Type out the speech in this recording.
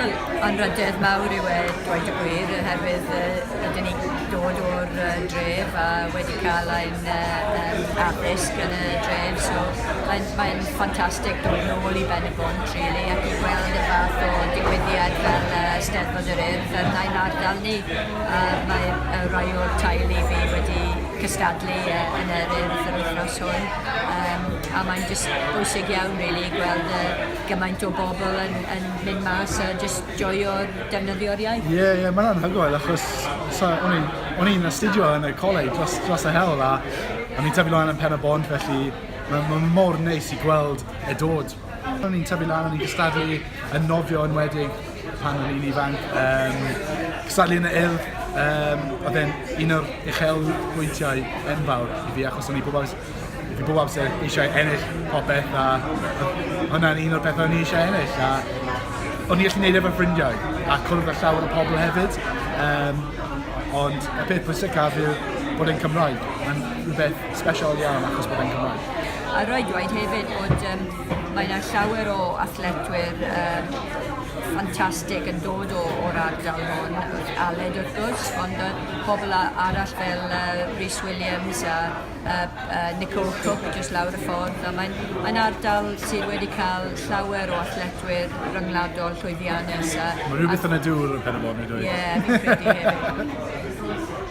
Wel, anrhydedd mawr yw e, dweud y gwir, oherwydd uh, ydyn ni dod o'r uh, dref a wedi cael ein uh, um, addysg yn y dref, so mae'n mae ffantastig dod yn ôl i Ben y Bont, really, ac i gweld y fath o digwyddiad fel uh, Steddfod yr Urdd yn ein ardal ni. A mae uh, rai o'r tail i fi wedi cystadlu uh, yn yr urdd yr wythnos hwn, um, a mae'n bwysig iawn, really, gweld uh, gymaint o bobl yn yn mynd mas a jyst joio defnyddio'r iaith. Ie ie mae'n anhygoel achos so, o'n i'n o'n i'n astudio yn y coleg dros dros y hewl a o'n i'n tyfu lan yn Pen y Bont felly mae'n ma mor neis i gweld e dod. O'n i'n tyfu lan o'n i'n cystadlu yn nofio yn wedig pan o'n i'n ifanc um, cystadlu yn y il um, oedd e'n un o'r uchel bwyntiau enfawr i fi achos o'n i bob amser Fi bob amser eisiau ennill popeth a hwnna'n un o'r pethau o'n i eisiau ennill a o'n i allu neud e efo'r ffrindiau a cwrdd â llawer o pobl hefyd um, ond y peth pwysicaf yw bod e'n Cymraeg. Mae'n rhywbeth special iawn achos bod e'n Cymraeg. A roed dweud hefyd bod um, mae yna llawer o athletwyr um, ffantastig yn dod o, o'r ardal hwn, Aled wrth gwrs, ond uh, pobl arall fel uh, Rhys Williams a a a Nicole Cooke jyst lawr y ffordd a mae'n mae'n ardal sydd wedi ca'l llawer o athletwyr ryngwladol llwyddiannus a... Mae rhywbeth yn y dŵr yn Pen-y-bont fi'n dweud. Ie fi'n credu hefyd.